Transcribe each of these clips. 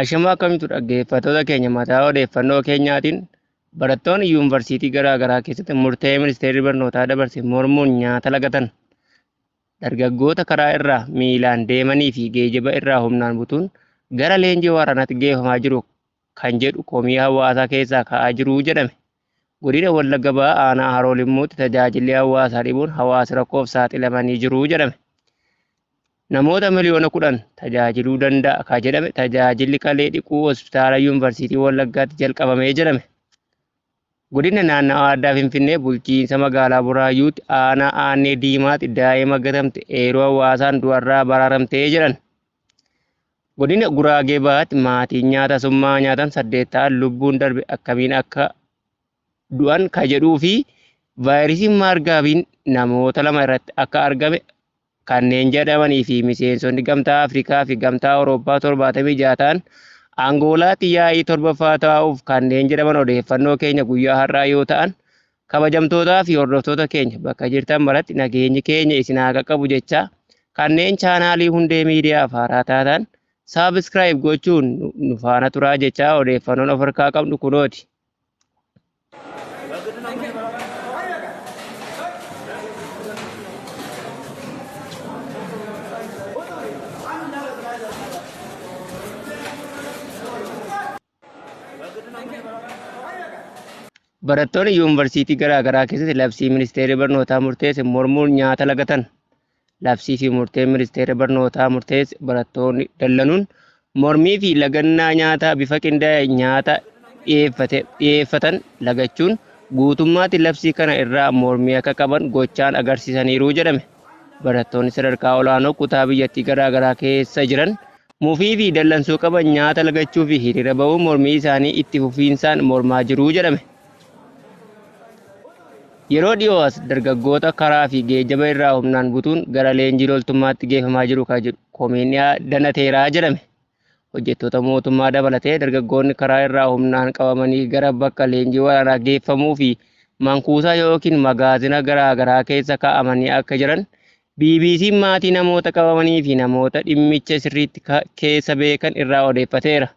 Ashamaa akkam jirtu dhaggeeffattoota keenya mataa odeeffannoo keenyaatiin barattoonni yuunvarsiitii garaa garaa keessatti murtee ministeerri barnootaa dabarse mormuun nyaata lagatan dargaggoota karaa irraa miilaan deemanii fi geejiba irraa humnaan butuun gara leenjii waraanaatti geeffamaa jiru kan jedhu komii hawaasaa keessaa ka'aa jiru jedhame. Godina Wallagga Bahaa Aanaa Haroo Limmuutti tajaajilli hawaasaa dhibuun hawaasi rakkoof saaxilamanii jiru jedhame. Namoota miliyoona 10 tajaajiluu danda'a ka jedhame tajaajilli kalee dhiquu Hospitaala Yuunvarsiitii Wallaggaatti jalqabamee jedhame. Godina Naannawaa Addaa Finfinnee bulchiinsa magaalaa Buraayyuutti aanaa Aannee Diimaatti daa'ima gatamte eeruu hawaasaan du'arraa baraaramtee jedhan. Godina Guraagee Bahaatti maatiin nyaata summaa nyaatan saddeet ta'an lubbuun darbe akkamiin akka du'an ka jedhuu fi vaayirasiin maargaabiin namoota lama irratti akka argame kanneen jedhamanii fi miseensonni Gamtaa Afrikaa fi Gamtaa Awurooppaa 76 ta'an Angoolaatti yaa'ii torbaffaa taa'uuf kanneen jedhaman odeeffannoo keenya guyyaa har'aa yoo ta'an Kabajamtootaa fi hordoftoota keenya bakka jirtan maratti nageenyi keenya isin haa qaqqabu jechaa kanneen chaanaalii hundee miidiyaaf haaraa taatan saabskraayib gochuun nu faana turaa jechaa odeeffannoon of harkaa qabnu kunooti. Barattoonni yuunivarsiitii garaa garaa keessatti labsii ministeerri barnootaa murteesse mormuun nyaata lagatan. Labsii fi murteen ministeerri barnootaa murteesse barattoonni dallanuun mormii fi lagannaa nyaataa bifa qindaa'e nyaata dhiyeeffate- dhiyeeffatan lagachuun guutummaatti labsii kana irraa mormii akka qaban gochaan agarsiisaniiru jedhame. Barattoonni sadarkaa olaanoo kutaa biyyattii garaa garaa keessa jiran mufii fi dallansuu qaban nyaata lagachuu fi hiriira ba'uun mormii isaanii itti fufiinsaan mormaa jiru jedhame. Yeroo dhiyoo as dargaggoota karaa fi geejjaba irraa humnaan butuun gara leenjii loltummaatti geeffamaa jiru kan jedhu komiin dhiyaa danateera jedhame. Hojjettoota mootummaa dabalatee dargaggoonni karaa irraa humnaan qabamanii gara bakka leenjii waraanaa geeffamuu fi mankuusaa yookiin magaazina garaa garaa keessa kaa'amanii akka jiran BBC'n maatii namoota qabamanii fi namoota dhimmicha sirriitti keessa beekan irraa odeeffateera.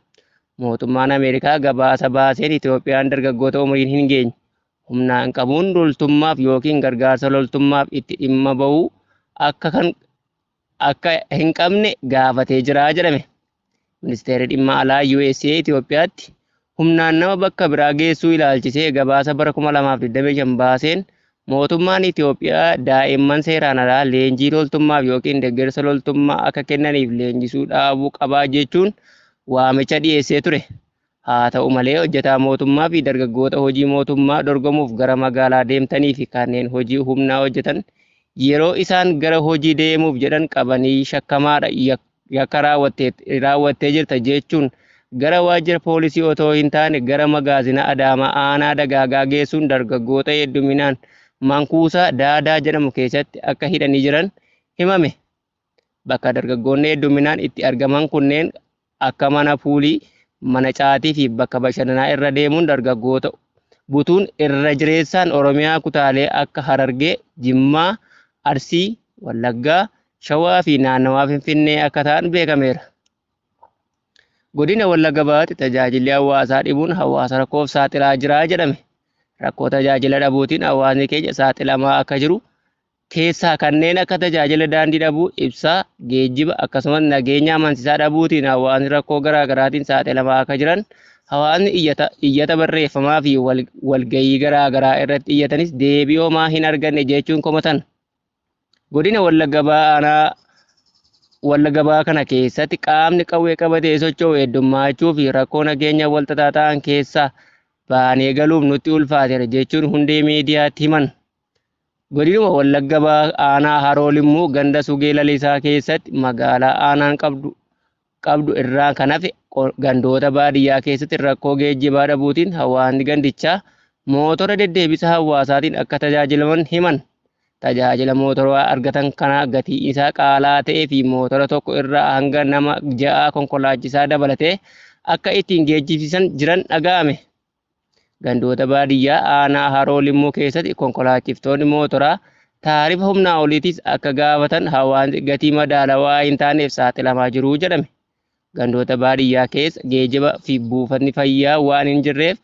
Mootummaan Ameerikaa gabaasa baaseen Itoophiyaan dargaggoota umriin hin geenye humnaan qabuun loltummaaf yookiin gargaarsa loltummaaf itti dhimma bahuu akka akka hin qabne gaafatee jira jedhame. Ministeerri Dhimma Alaa USA Itoophiyaatti humnaan nama bakka biraa geessuu ilaalchisee gabaasa bara 2025 baaseen mootummaan Itoophiyaa daa'imman seeraan alaa leenjii loltummaaf yookiin deeggarsa loltummaa akka kennaniif leenjisuu dhaabuu qabaa jechuun waamicha dhiyeessee ture. Haata'u malee, hojjetaa mootummaa fi dargaggoota hojii mootummaa dorgomuuf gara magaalaa deemtanii fi kanneen hojii humnaa hojjetan yeroo isaan gara hojii deemuuf jedhan qabanii shakkamaadha, yakka raawwattee jirta jeechuun gara waajjira poolisii otoo hin taane gara magaazina Adaamaa aanaa Dagaagaa geessuun dargaggoota hedduminaan man-kuusaa Daadaa jedhamu keessatti akka hidhanii jiran himame. Bakka dargaggoonni hedduminaan itti argaman kunneen akka mana puulii, mana caatii fi bakka bashannanaa irra deemuun dargaggoota butuun irra jireessaan Oromiyaa kutaalee akka Harargee, Jimmaa, Arsii, Wallaggaa, Shawaa fi naannawaa Finfinnee akka ta'an beekameera. Godina Wallagga Bahaatti tajaajilli hawaasaa dhibuun hawaasa rakkoof saaxilaa jira jedhame. Rakkoo tajaajila dhabuutiin hawaasni keenya saaxilamaa akka jiru keessaa kanneen akka tajaajila daandii dhabuu, ibsaa, geejjiba akkasumas nageenya amansiisaa dhabuutiin hawaasni rakkoo garaa garaatiin saaxilamaa akka jiran hawaasni iyyata, iyyata barreeffamaa fi wal, walgayii garaa garaa irratti iyyatanis deebii homaa hin arganne jechuun komatan. Godina Wallagga Bahaa aanaa Wallagga Bahaa kana keessatti qaamni qawwee qabatee socho'u heddummaachuu fi rakkoo nageenya walxaxaa ta'an keessaa baanee galuuf nutti ulfaateera jechuun hundee miidiyaatti himan. Godinuma Wallagga Bahaa Aanaa Haroo Limmuu ganda Sugee Lalisaa keessatti magaalaa aanaan qabdu qabdu irraan kan hafe gandoota baadiyyaa keessatti rakkoo geejjibaa dhabuutiin hawaasni gandichaa mootora deddeebisa hawaasaatiin akka tajaajilaman himan. Tajaajila mootoraa argatan kanaa gatii isaa qaalaa ta'ee fi mootora tokko irraa hanga nama ja'aa konkolaachisaa dabalatee akka ittiin geejjibsiisan jiran dhaga'ame. Gandoota baadiyyaa aanaa Haroo Limmuu keessatti konkolaachiftoonni mootoraa taarifa humnaa oliitiis akka gaafatan hawaasni gatii madaalawaa hin taaneef saaxilamaa jiru jedhame. Gandoota baadiyyaa keessa geejiba fi buufatni fayyaa waan hin jirreef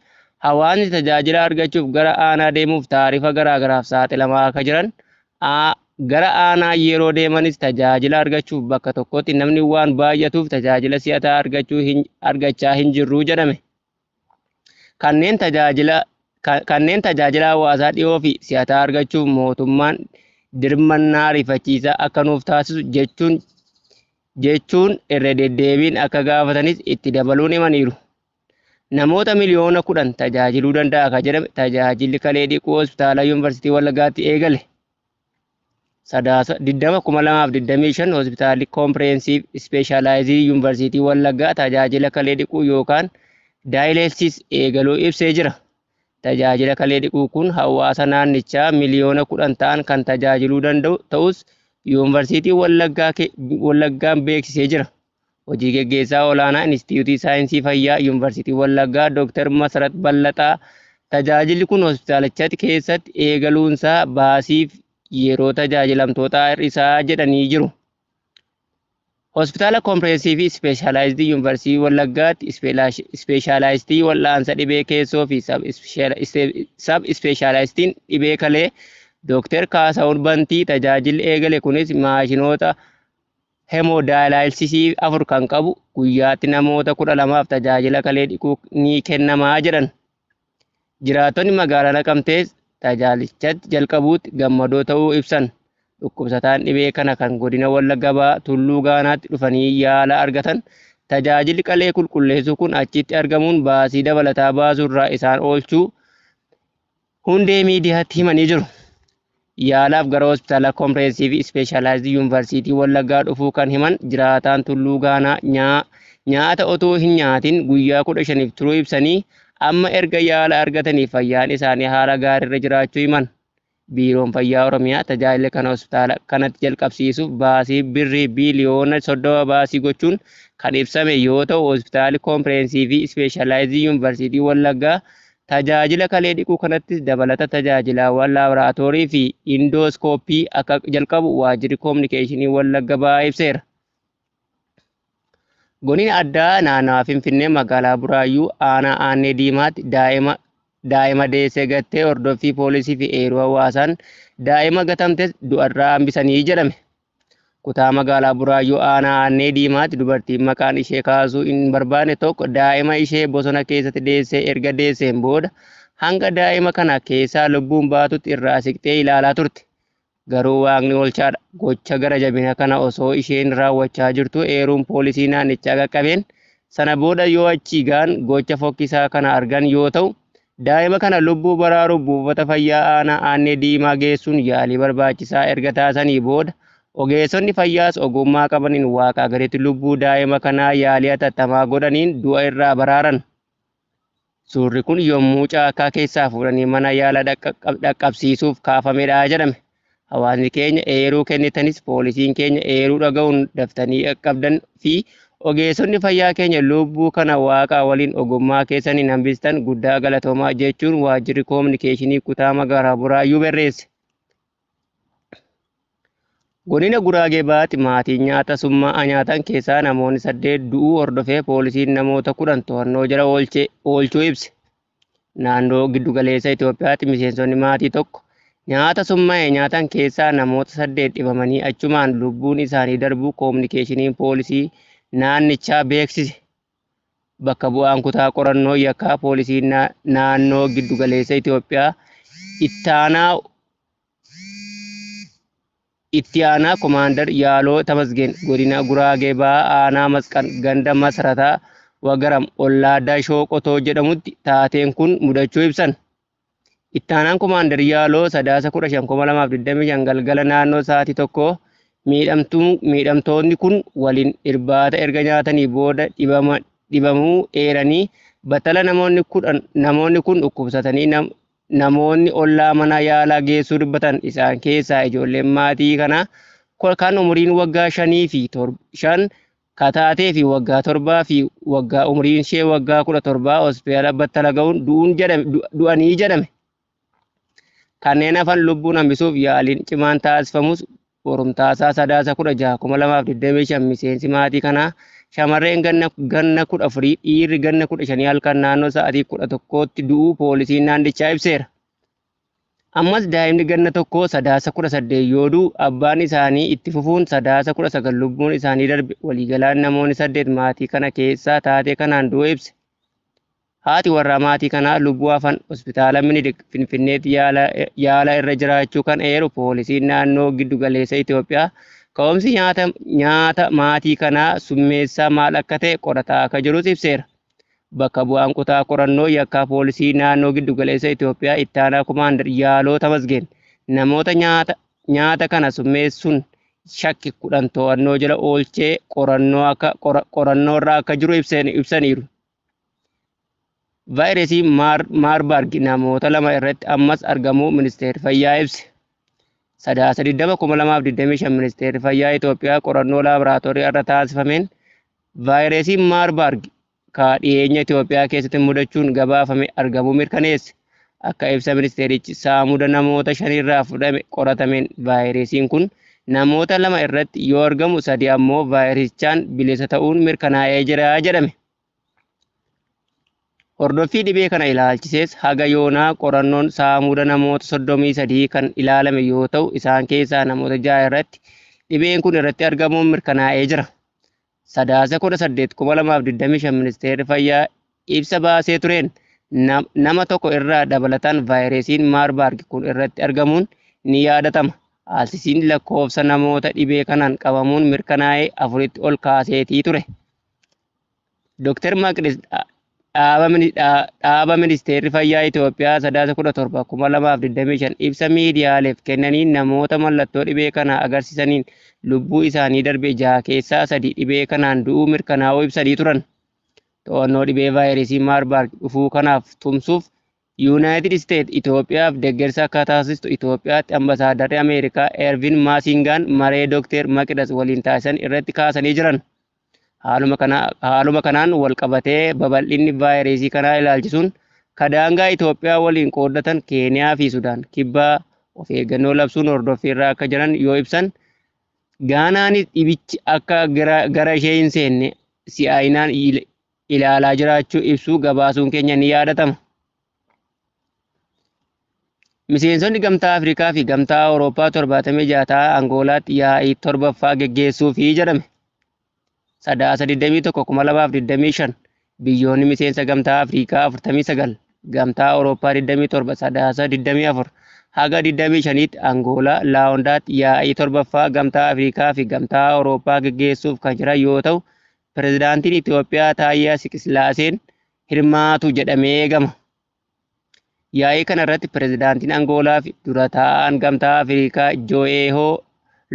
hawaasni tajaajila argachuuf gara aanaa deemuuf taarifa garaagaraaf saaxilamaa akka jiran gara aanaa yeroo deemanis tajaajila argachuuf bakka tokkotti namni waan baay'atuuf tajaajila si'ataa argachaa hin jirru jedhame. Kanneen tajaajila Kanneen tajaajila hawaasaa dhiyoo fi si'ataa argachuuf mootummaan dirmannaa ariifachiisaa akka nuuf taasisu jechuun jechuun irra deddeebiin akka gaafatanis itti dabaluun himaniiru. Namoota miliyoona kudhan tajaajiluu danda'a kan jedhame tajaajilli kalee dhiquu hospitaala Yuunivarsiitii Wallaggaatti eegale. Sadaasa 20,2025 Hospitaalli Koompirehensiiv Ispeeshaalaayizii Yuunivarsiitii Wallaggaa tajaajila kalee dhiquu yookaan daayileelsiis eegaluu ibsee jira. Tajaajila kalee dhiquu kun hawaasa naannichaa miliyoona 10 ta'an kan tajaajiluu danda'u ta'us Yuunivarsiitii Wallaggaa Wallaggaan beeksisee jira. Hojii Geggeessaa Olaanaa Inistitiyuutii Saayinsii Fayyaa Yuunvarsiitii Wallaggaa Dooktar Masarat Ballaxaa tajaajilli kun hospitaalichatti keessatti eegaluunsaa baasiif yeroo tajaajilamtootaa hir'isaa jedhanii jiru. Hospitaala Kompireensivii Ispeeshaalaayizidii Yuunvarsiitii Wallaggaatti ispeeshaalaayistii wal'aansa dhibee keessoo fi sab ispeeshaalaayistiin dhibee kalee Dooktar Kaasahuun Bantii tajaajilli eegale kunis maashinoota Hemodaayalaayilsisii 4 kan qabu guyyaatti namoota 12f tajaajila kalee dhiquu ni kennama jedhan. Jiraattonni magaalaa Naqamtees tajaajilichatti jalqabuutti gammadoo ta'uu ibsan. Dhukkubsataan dhibee kana kan godina Wallagga Bahaa Tulluu Gaanaatti dhufanii yaala argatan tajaajilli qalee qulqulleessuu kun achitti argamuun baasii dabalataa baasurraa isaan oolchuu Hundee miidiyaatti himanii jiru. Yaalaaf gara Hospitaala Kompirehensiivii Ispeeshaalaayizd Yuunvarsiitii Wallaggaa dhufuu kan himan jiraataan Tulluu Gaanaa Nyaa, nyaata otuu hin nyaatin guyyaa 15f turuu ibsanii, amma erga yaala argatanii fayyaan isaanii haala gaariirra jiraachuu himan. Biiroon Fayyaa Oromiyaa tajaajila kana hospitaala kanatti jalqabsiisuuf baasii Birrii biiliyoona 30 baasii gochuun kan ibsame yoo ta'u, Hospitaali Kompirehensiivii Ispeeshaalaayizd Yuunvarsiitii Wallaggaa Tajaajila kalee dhiquu kanattis dabalata tajaajilaawwan laaboraatoorii fi indooskooppii akka jalqabu Waajjirri Koominikeeshinii Wallagga Bahaa ibseera. Goniin addaa naannawa Finfinnee magaalaa Buraayyuu aanaa Aannee Diimaatti daa'ima daa'ima deessee gattee hordoffii poolisii fi eeruu hawaasaan daa'ima gatamtes du'arraa hambisanii jedhame. Kutaa magaalaa Buraayyuu aanaa Aannee Diimaatti dubartiin maqaan ishee kaasuu hin barbaanne tokko daa'ima ishee bosona keessatti deessee erga deesseen booda hanga daa'ima kana keessaa lubbuun baatutti irraa siqxee ilaalaa turte. Garuu Waaqni oolchaadha. Gocha gara jabina kana osoo isheen raawwachaa jirtuu eeruun poolisii naannichaa qaqqabeen sana booda yoo achii gahan gocha fokkisaa kana argan yoo ta'u, Daa'ima kana lubbuu baraaruuf buufata fayyaa aanaa Aannee Diimaa geessuun yaalii barbaachisaa erga taasisanii booda ogeessonni fayyaas ogummaa qabaniin waaqaa gaditti lubbuu daa'ima kanaa yaalii hatattamaa godhaniin du'a irraa baraaran. Suurri kun yommuu caakkaa keessaa fuudhanii mana yaalaa dhaqqabsiisuuf kaafamedha jedhame. Hawaasni keenya eeruu kennitanis poolisiin keenya eeruu dhaga'uun daftanii qaqqabdan fi ogeessonni fayyaa keenya lubbuu kana waaqaa waliin ogummaa keessaniin hambistan guddaa galatoomaa jechuun waajjirri koominikeeshinii kutaa magaalaa Buraayyuu barreesse. Godina Guraagee Bahaatti maatiin nyaata summaa'aa nyaatan keessaa namoonni saddeet du'uu hordofee poolisiin namoota kudhan to'annoo jala oolchuu ibse. Naannoo Giddugaleessa Itoophiyaatti miseensonni maatii tokko nyaata summa'e nyaatan keessaa namoota saddeet dhibamanii achumaan lubbuun isaanii darbuu koominikeeshiniin poolisii naannichaa beeksise. Bakka bu'aan kutaa qorannoo yakkaa poolisii naannoo Giddugaleessa Itoophiyaa ittaanaa Itti Aanaa Komaandar Yaaloo Tamasgeen Godina Guraagee Bahaa Aanaa Masqan Ganda Masrataa Wagaram Ollaa Dashoo Qotoo jedhamutti taateen kun mudachuu ibsan. Itti Aanaan Komaandar Yaaloo Sadaasa 15,2025 galgala naannoo sa'aatii tokkoo miidhamtootni kun waliin irbaata erga nyaatanii booda dhibamuu eeranii battala namoonni kun dhukkubsatanii Namoonni ollaa mana yaalaa geessuu dubbatan isaan keessaa ijoolleen maatii kanaa kan umuriin waggaa shanii fi shan ka taatee fi waggaa torbaa fi waggaa umuriin ishee waggaa kudha torbaa hospitaala battala ga'uun du'anii jedhame. Kanneen hafan lubbuun hambisuuf yaaliin cimaan taasifamus Borumtaasaa Sadaasa 16, 2025 Miseensi maatii kanaa shamarreen ganna ganna 14 dhiirri ganna 15 halkan naannoo sa'aatii 11tti du'uu poolisiin naannichaa ibseera. Ammas daa'imni ganna tokkoo Sadaasa 18 yoo du'u abbaan isaanii itti fufuun Sadaasa 19 lubbuun isaanii darbe waliigalaan namoonni saddeet maatii kana keessaa taatee kanaan du'uu ibse. Haati warraa maatii kanaa lubbuu hafan Hospitaala Minilik Finfinneetti yaala irra jiraachuu kan eeru Poolisiin Naannoo Giddugaleessa Itoophiyaa, ka'umsi nyaata maatii kanaa summeessaa maal akka ta'e qorataa akka jirus ibseera. Bakka bu'aan kutaa qorannoo yakkaa Poolisii Naannoo Giddugaleessa Itoophiyaa Ittaanaa Komaandar Yaaloo Tamasgeen, namoota nyaata kana summeessuun shakke 10 to'annoo jala oolchee qorannoorra akka jiru ibsaniiru. Vaayirasii Maarbarg namoota lama irratti ammas argamuu Ministeerri Fayyaa ibse. Sadaasa 20,2025 Ministeerri Fayyaa Itoophiyaa qorannoo laaboraatoorii irra taasifameen vaayirasiin Maarbarg kaa dhiyeenya Itoophiyaa keessatti mudachuun gabaafame argamuu mirkaneesse. Akka ibsa ministeerichi saamuda namoota shanirraa fudhame qoratameen vaayiresiin kun namoota lama irratti yoo argamu sadi ammoo vaayirasichaan bilisa ta'uun mirkanaa'ee jira jedhame. Hordoffii dhibee kana ilaalchisees haga yoonaa qorannoon saamuda namoota 33 kan ilaalame yoo ta'u isaan keessaa namoota ja'a irratti dhibeen kun irratti argamuun mirkanaa'ee jira. Sadaasa 18, 2025 Ministeerri Fayyaa ibsa baasee tureen nama tokko irraa dabalataan vaayireesiin Maarbaargi kun irratti argamuun ni yaadatama. Haalsisiin lakkoofsa namoota dhibee kanaan qabamuun mirkanaa'ee afuritti ol kaaseetii ture. Doktar Maqdis Dhaaba Ministeerri Fayyaa Itoophiyaa Sadaasa 17, 2025 ibsa miidiyaaleef kennaniin namoota mallattoo dhibee kanaa agarsiisaniin lubbuu isaanii darbe jaha keessaa sadi dhibee kanaan du'uu mirkanaa'uu ibsanii turan. To'annoo dhibee vaayirasii Maarbaarg dhufuu kanaaf tumsuuf Yuunaayitid Isteet Itoophiyaaf deeggarsa akka taasistu Itoophiyaatti Ambasaadarri Ameerikaa Ervin Maasingaan maree Dookteer Maqidas waliin taasisan irratti kaasanii jiran. Haaluma kanaan walqabatee babal'inni vaayireesii kanaa ilaalchisuun ka daangaa Itoophiyaa waliin qooddatan Keeniyaa fi Sudaan kibbaa of eeggannoo labsuun hordoffiirra akka jiran yoo ibsan, Gaanaanis dhibichi akka gara ishee hin seenne si'aayinaan ilaalaa jiraachuu ibsuu gabaasuun keenya ni yaadatama. Miseensonni Gamtaa Afrikaa fi Gamtaa Awurooppaa 76 ta'a Angoolaatti yaa'ii torbaffaa geggeessuu fi jedhame. Sadaasa 21,2025 biyyoonni miseensa Gamtaa Afrikaa 49, Gamtaa Awurooppaa 27 Sadaasa 24 haga 25tti Angoolaa Laawondaatti yaa'ii torbaffaa Gamtaa Afrikaa fi Gamtaa Awurooppaa geggeessuuf kan jiran yoo ta'u, Pirezidaantiin Itoophiyaa Taayyaa Siqisilaaseen hirmaatu jedhamee eegama. Yaa'ii kana irratti pirezidaantiin Angoolaa fi dura taa'aan gamtaa Afrikaa Joo'eehoo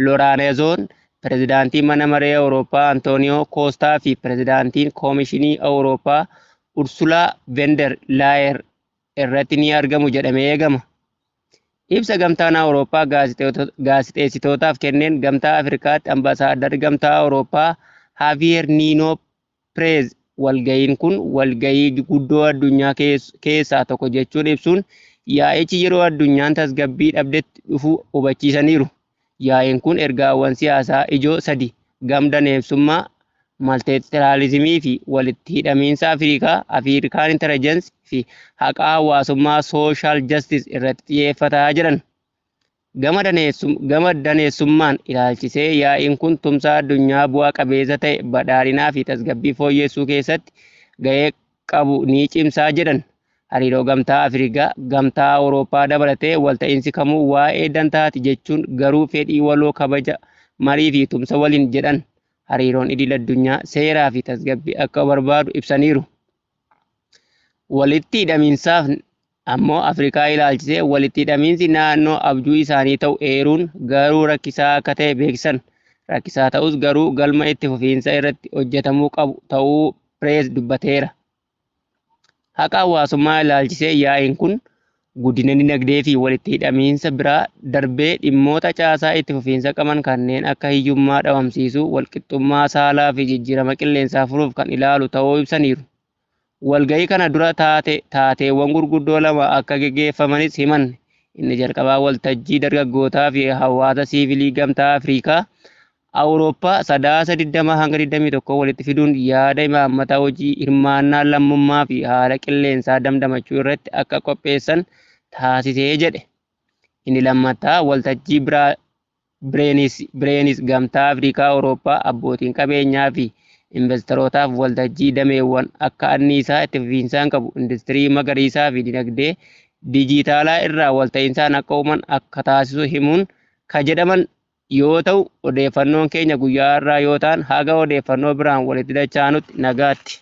Loraanezoon, pirezidaantiin mana maree Awurooppaa Antooniyoo Koostaa fi pirezidaantiin koomishinii Awurooppaa Ursulaa Vender Laayer irratti ni argamu jedhamee eegama. Ibsa gamtaan Awurooppaa gaazexeessitootaaf kenneen gamtaa Afrikaatti ambasaadarri gamtaa Awurooppaa Haaviyeer Niinoo Prez, walga'iin kun walga'ii guddoo addunyaa keessaa tokko jechuun ibsuun, yaa'ichi yeroo addunyaan tasgabbii dhabdetti dhufu hubachiisaniiru. Yaa'iin kun ergaawwan siyaasaa ijoo sadi, gam-daneessummaa, malteetiraalizimii fi walitti hidhamiinsa Afrikaa, African Intelligence, fi haqa hawaasummaa, social justice, irratti xiyyeeffata jedhan. Gama gama daneessummaan ilaalchisee yaa'iin kun tumsa addunyaa bu'a qabeessa ta'e badhaadhinaa fi tasgabbii fooyyeessuu keessatti gahee qabu ni cimsaa jedhan. Hariiroo Gamtaa Afrikaa, Gamtaa Awurooppaa dabalatee walta'iinsi kamuu waa'ee dantaati jechuun garuu fedhii waloo kabaja, marii fi tumsa waliin jedhan hariiroon idil addunyaa seeraa fi tasgabbii akka barbaadu ibsaniiru. Walitti hidhamiinsaaf Ammoo Afrikaa ilaalchisee walitti hidhamiinsi naannoo abjuu isaanii ta'u eeruun, garuu rakkisaa akka ta'e beeksisan. Rakkisaa ta'us garuu galma itti fufiinsa irratti hojjetamuu qabu ta'uu Preez dubbateera. Haqa hawaasummaa ilaalchisee yaa'iin kun guddina dinagdee fi walitti hidhamiinsa bira darbee dhimmoota caasaa itti fufiinsa qaban kanneen akka hiyyummaa dhabamsiisuu, walqixxummaa saalaa fi jijjiirama qilleensaa furuuf kan ilaalu ta'uu ibsaniiru. Walga'ii kana dura taate taateewwan gurguddoo lama akka geggeeffamanis himan. Inni jalqabaa waltajjii dargaggootaa fi hawaasa siivilii Gamtaa Afriikaa, Awurooppaa Sadaasa 20 hanga 21 walitti fiduun yaada imaammata hojii hirmaannaa lammummaa fi haala qilleensaa damdamachuu irratti akka qopheessan taasisee jedhe. Inni lammataa waltajjii Bireenis Gamtaa Afrikaa Awurooppaa abbootiin qabeenyaa fi investarootaaf waltajjii dameewwan akka anniisaa itti fufiinsaan qabu, industirii magariisaa fi dinagdee dijiitaalaa irraa walta'insaan akka uuman akka taasisu himuun ka jedhaman yoo ta'u, odeeffannoon keenya guyyaa har'aa yoo ta'an haga odeeffannoo biraan walitti dachaanutti nagaatti.